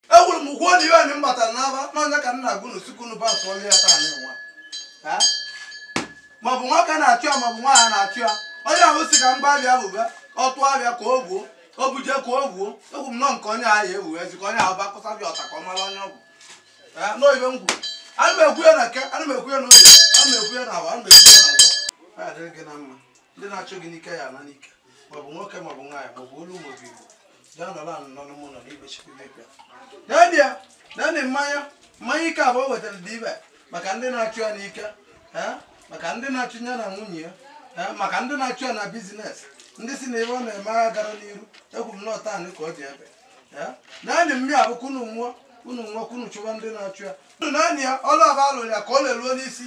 ekwuru m gwuo na iwe anyị m batara n'aba n'ọnya ka nna gụnụ si ka unu ba tụọlụ ya taa nụnwa maọbụ nwoke na-achụ ya maọbụ nwaanyị na-achụ ya onye ahụ si ka mgba abịa bụba ọtụ abịa ka o gbuo o buje ka o gbuo egwu m nọ nke onye ahụ ewu ezi ka onye ahụ ba kụsa bịa ọta ka ọ mara onye ọ bụ n'oyibe m kwuru ana m ekwu ya na eke ana m ekwu ya n'oye ana m ekwu ya n'afọ ana m ekwu ya na nkwọ ọ ya dịrị gị na mma ndị na-achụ gị n'ike ya ala n'ike maọbụ nwoke maọbụ nwaanyị maọbụ olu maọbụ igbo bịa nọrọ anụ n'ọnụ m ụlọ n'igbe chukwu bịa n'edia naanụ mmanya mmanya ike ahụ o wetara dị ibe maka ndị na-achụ ya n'ike eh, maka ndị na-achụ ya na nwunye ya eh, maka ndị na-achụ ya na bizinesi ndị si na ihe ọ na-eme agha gara n'iru egwu m nọta anị ka ọ dị ebe eh, naanụ mmiri ahụ ka unu ṅụọ unu nwa ka unu chụwa ndị na-achụ ya unu naanị ya ọlụ ahụ a lụrụ ya ka ọ leruo n'isi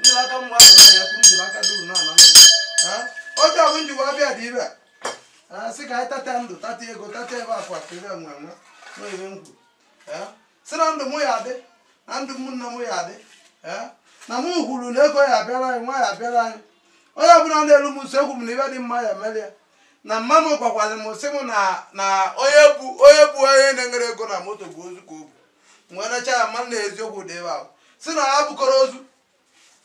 nyere aka mma ahụ na ya kwuru jiri aka duru naanụ ọjị ahụ m ji wee bịa dị ebe a sị ka anyị tata ndụ tata ego tata ihe akụ akụ ihe enwe enwe na ọ ihe m kwuru Eh, sị na ndụ mụ ya adị na ndụ mụ nna mụ ya adị Eh, na mụ kwuru na ego ya abịara anyị nwa ya abịara anyị onye ọbụla na-elu m nso egwu m na ibe dị mma ya mere ya na mma m gwakwara m sị m na na onye bụ onye bụ onye na-enwerọ ego na moto bụ ozu ka ọ bụ wee nacha ya mmanụ na eziokwu dị ebe ahụ si na ya bụkọrọ ozu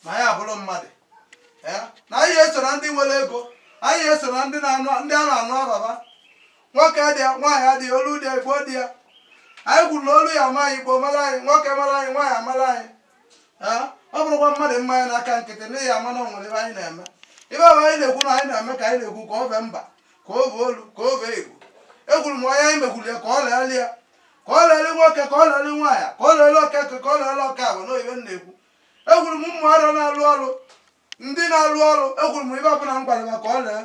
na ya abụrọ mmadụ na anyị eso na ndị nwere ego anyị eso na ndị a na-anụ ava va nwoke dị ya nwaanyị adị ya olu dị ya igbo dị ya anyị kwuru na olu ya ama anyị igbo mara anyị nwoke mara anyị nwaanyị amara anyị ọ bụrọkwa mmadụ mmanya n'aka nkịtị n'ihi ama na o nwere ihe anyị na-eme ibe ọbụ anyị na-ekwu na anyị na-eme ka anyị na-ekwu ka ọ bee mba ka o bee olu ka o bee igbo ekwuru m onye anyị mekwuru ya ka ọ lele ya ka ọ lele nwoke ka ọ lele nwaanyị ka ọ lele okeke ka ọ lele okafọ na oyibe m na-ekwu ekwuru m ụmụ ọrụ na-alụ ọrụ ndị na-alụ ọrụ ekwuru m ibe ọbụla m gwara ya ka ọ lee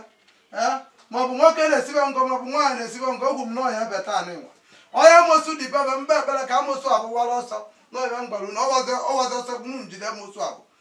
ee maọbụ nwoke na-esibe ngọ maọbụ nwaanyị na-esibe ngọ egwu m na ọ ya-ebe taa nụnwa onye amosu dị bebe mba ekpere ka amosu ahụ wara ọsọ n'ọhịa m gwara na ọwazi ọsọ m njide amosu ahụ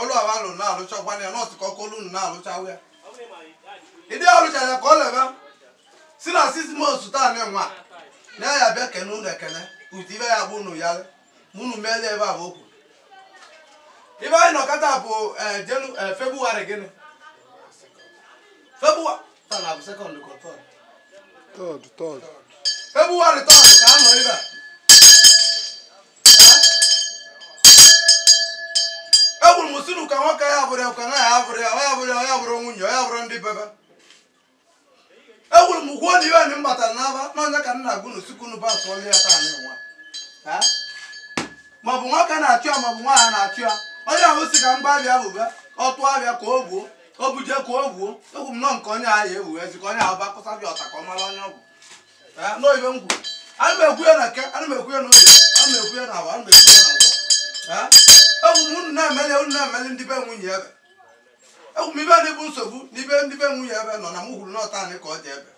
ọlụ awa alụ na-alụchakwa ya nọọsụ ka ọkụ olu na-alụchawa ya ịdị alụchara ya ka ọ lebe si na six months taa nụnwa na ya bịa kene unu ekene otu ibe ya bụ unu ya ma unu meele ebe a bụ okwu ibe anyị nọkọta bụ eh, jenu eh, febụwarị gịnị febụwa taa na bụ sekọnd ka ọ tọd Third, third. febụwarị tọd ka a nọ ebe a ekwuru m sinu ka nwoke ya bụrụ ekwe na ya bụrụ ya ya bụrụ ya ya bụrụ nwunye ya bụrụ ndị bebe ekwuru m gwuo na iwe anyị mbatara n'aba n'ọnya ka nna gụnụ si ka unu ba tụọlụ ya taa nụnwa maọbụ nwoke na-achụ ya maọbụ nwaanyị na-achụ ya onye ahụ si ka m gbaa bịa bụba ọ tụọ bịa ka o gbuo o buje ka o gbuo egwu m nọ nke onye ahụ ya ewu ezi ka onye ahụ bakụsa bịa ọta ka ọ mara onye ọ bụ Ah, nọ ibe m kwu ana m ekwu ya na eke ana m ekwu ya na oye ana m ekwu ya na afọ ana m ekwu ya na nkwọ Ah, ekwu m unu na-emeli unu na-emeli ndị be nwunye ibe ekwu m ibe adịbụ nsogbu na ibe ndị be nwunye ebe nọ na m hụrụ n'ọta anyị ka ọ dị ebe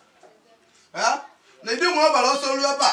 Ah, na ịdị nwe ọbara ọsọ ruo ebe a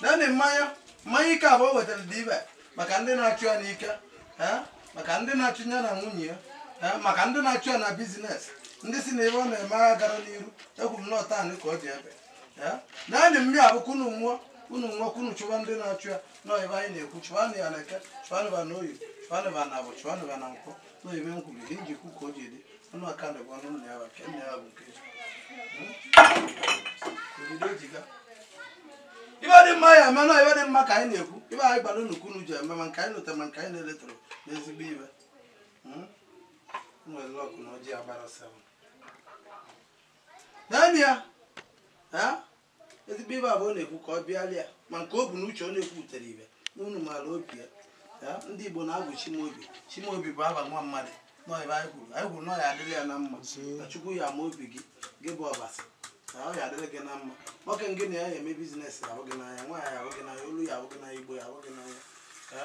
naanị mmanya mmanya ike abụọ wetara dị ibe maka ndị na-achụ ya n'ike maka ndị na-achụ ya na nwunye ya maka ndị na-achụ ya na business ndị si na ibe ọ na-eme agha gara n'iru ekwu m nọta anị ka ọ dị ebe naanị mmiri abụkwa unu ṅụọ unu ṅụọ unu chụwa ndị na-achụ ya nọ ibe anyị na-ekwu chụwanụ ya na eke chụwanụ ya na oye chụwanụ ya na afọ chụwanụ ya na nkwọ nọ ibe m kwuru ihe njikwu ka o ji dị ọnụ aka na bụ ọnụ nna ya nke nna ya bụ nke obodo ejiga ibe dị mma ya menụ ibe dị mma ka anyị na-ekwu ibe anyị gbara nnukwu unu ji eme ma nke anyị lota ma nke anyị na-elotarọ n'ezigbo ibe nwere lọkụ na ọjị agbara seven naanị ya Ezigbo ibe abụ ọ na-ekwu ka ọ bịalị ya ma nke o bu n'uche ọ na-ekwutere ibe na unu maara obi ya. Ya, Ndị Igbo na-agụ Chimaobi. Chimaobi bụ afa nwa mmadụ. Na ọ ibe anyị kwuru. Anyị kwuru na ọ ya adịrị ya na mma. Na Chukwu ya ama obi gị. Gị bụ Ọbasi. Na ọ ya adịrị gị na mma. Nwoke ngị na ya ya eme business ya ahụ gị n'anya. Nwaanyị ya ahụ gị n'anya. Olu ya ahụ gị n'anya. Igbo ya ahụ gị n'anya. Ya,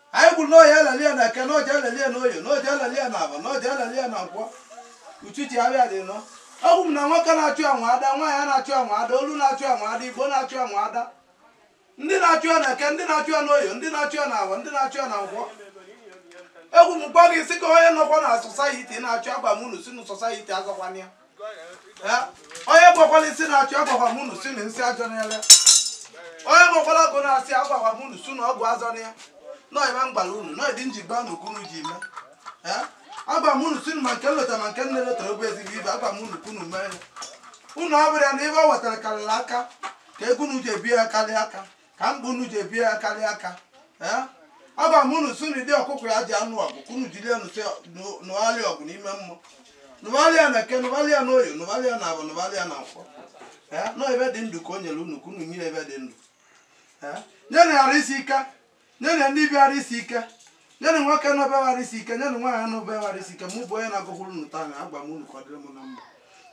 anyị kwuru na ọ ya alali ya na eke na ọ ja alali ya na oye na ọ ja alali ya na afọ na ọ ja alali ya na nkwọ uchichi abịa dị nọ ekwu m na nwoke na-achụ ya ada nwaanyị na-achụ ya ada olu na-achụ ya ada igbo na-achụ ya ada ndị na-achụ ya na eke ndị na-achụ ya na oye ndị na-achụ ya na afọ ndị na-achụ ya na nkwọ ekwu m gwa gị sị ka onye nọkwa na society na-achụ agwa m unu si na society azọkwana ya onye gbakwala nsị na-achụ agwakwa m unu si na nsị azọna ya onye gbakwala ọgwụ na-achụ agwakwa m unu si na ọgwụ azọna ya nọ ibe m gwara unu nọ ịdị njigba na okwu unu ji eme agwa m unu si ma nke m lota ma nke m na-elotarọ bụ ezigbo ibe agwa m unu ka unu mee ya unu abụrụ ya na ibe ọ wetara karịrị aka ka ego unu ji ebi ya karịa aka ka mkpa unu ji ebie ya karịa aka ee agwa m unu si na di ọkụkọ ya ji anụ ọgụ ka unu jiri nụwara ya ọgụ n'ime mmụọ nụwara ya na eke nụwara ya na oye nụwara ya na afọ nụwara ya na nkwọ ee nọ ibe dị ndụ ka o nyere unu ka unu nyere ibe dị ndụ ee nyenụ ya arụ isi ike nyenụ ndị be ya arụ isi ike nyenụ nwoke nọ be ya arụ isi ike nyenụ nwaanyị nọ be ya arụ isi ike mụ bụ onye na-agụkwuru unu taa na agwa m unu ka ọ dịrị m na mma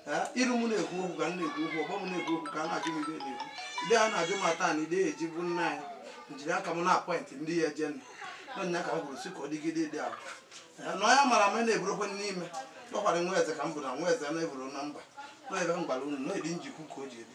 Ee, iru m na-ekwu okwu ka m na-ekwu okwu ọgbọ m na-ekwu okwu ka a na-ajụ m ihe na-ekwu ndị a na-ajụ m ata na ide eji bụ nna anyị njiri aka m na-apọịntị ndị ya eje nụ n'ọnya ka m kwuru si ka ọ dịgide dị ahụ Ee, na onye mara ma na-eburokwe n'ime nọkwara nwa eze ka m bụ na nwa eze na-eburu na mba nọ ibe m gwara unu na-edi njikwu ka o ji ebi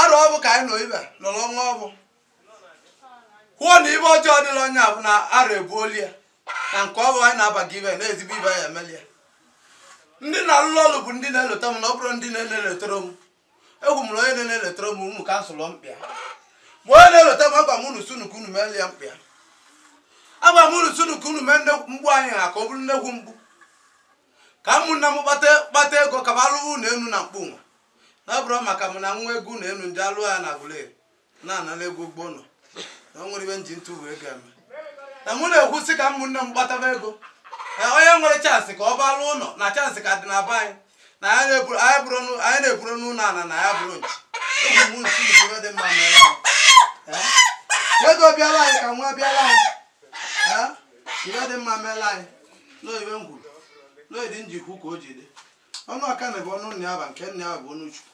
arụ ọbụ ka anyị nọ ibe nọrọ ọnwa ọbụ kwuo na ibe ọjọọ dịla onye abụ na arụ ebuoli ya na nke ọbụ anyị na-abaga ibe na ezigbo ibe ya emeli ya ndị na-alụlụ ọlụ bụ ndị na-eleta m na ọ bụrụ ndị na-eleletara m egwu m na onye na-eleletara m ụmụ kansụl mkpịa ma onye na-eleta m agwa m unu si unu ka unu meeli ya mkpịa agwa m unu si unu ka unu mee mkpu anyị a ka ọ bụrụ nnekwu mkpu ka ụmụnna m kpata ego ka ba lụọ ụnọ enu na mkpu nwa Na ọ bụrụ maka m na-enwe ego na enu ndị alụ ya na Aguleri na-anala ego ụgwọ ụnọ na o nwere ibe m ji ntụ wee ga-eme na mụ na-ekwu sị ka ụmụnne m kpataba ego na onye nwere chansị ka ọ ba lụọ ụnọ na chansị ka dị na be anyị na anyị na-eburu- anyị bụrụ n'ụ- anyị na-eburu n'ụnọ ana na ya bụrụ nchi eji m nsi ibe dị mma mere ya Ee? ego bịala anyị ka nwa bịala anyị Ee? ibe dị mma mere anyị nọọ ibe m kwuru n'oyidị njikwu ka o ji dị Ọnụ Akanị bụ ọnụ Nneaba nke Nneaba bụ ọnụ Chukwu.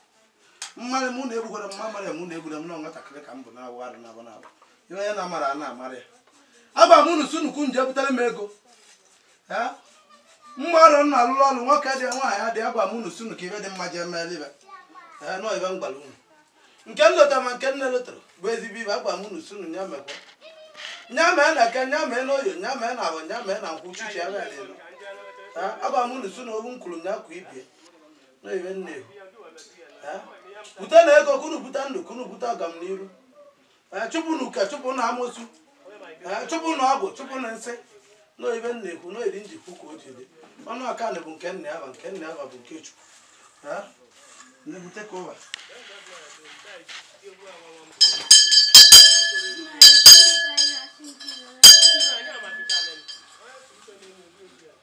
Mmarị m unu egbukwara m, ma mara m unu egbura m nọọ nwatakịrị ka m bụ na-awụ arụ n'abọ n'abọ. Ihe onye na-amara a na-amara ya. Agwa m unu si unu ka unu je butere m ego. Ee? Mmadụ m na-alụrụ ọrụ nwoke dị nwaanyị adị agwa m unu si unu ka ibe dị mma jee meela ibe. Ee, nọọ ibe m gwara unu. nke m lota ma nke m elotarọ bụ ezigbo ibe agwa m unu si unu nya mekwa nya mee na eke nya mee na oye nya mee na abọ nya mee na nkwọ uchichi ya bịa n'elu agwa m unu si unu okwu m kwuru nya kwa ibie na ibe nne bute na ego ka unu bute ndụ ka unu bute ọganiru Eh, chụpụ na uke chụpụ na amosu eh, chụpụ na ọgwụ chụpụ na nsị na ibe m na-ekwu na eri njikwu ka o ji dị ọnụ ọka na bụ nke nna ya ba nke nna ya ba bụ nke chukwu Eh, na-ebute ka ụwa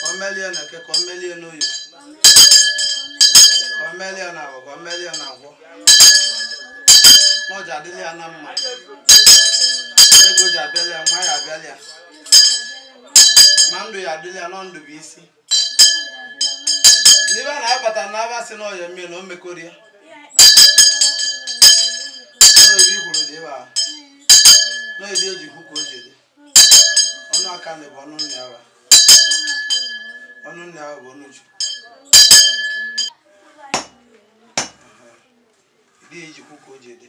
ka ọ melie na eke ka ọ melie n'oye ka ọ melie na abọ ka ọ melie na nkwọ na ọ ji adịla ya na mma ego ji abịala ya nwa ya abịala ya ma ndụ ya adịla ya na ndụ bụ isi n'ibe a na-abata na aba sị na ọya mmiri na o mekọrọ ya Ebe obi kwuru dị ebe a na-edi eji hụ ka o ji dị ọnụ aka na bụ ọnụ nne awa ọnụ nne awa bụ ọnụ Chukwu dị ejikwu ka o ji dị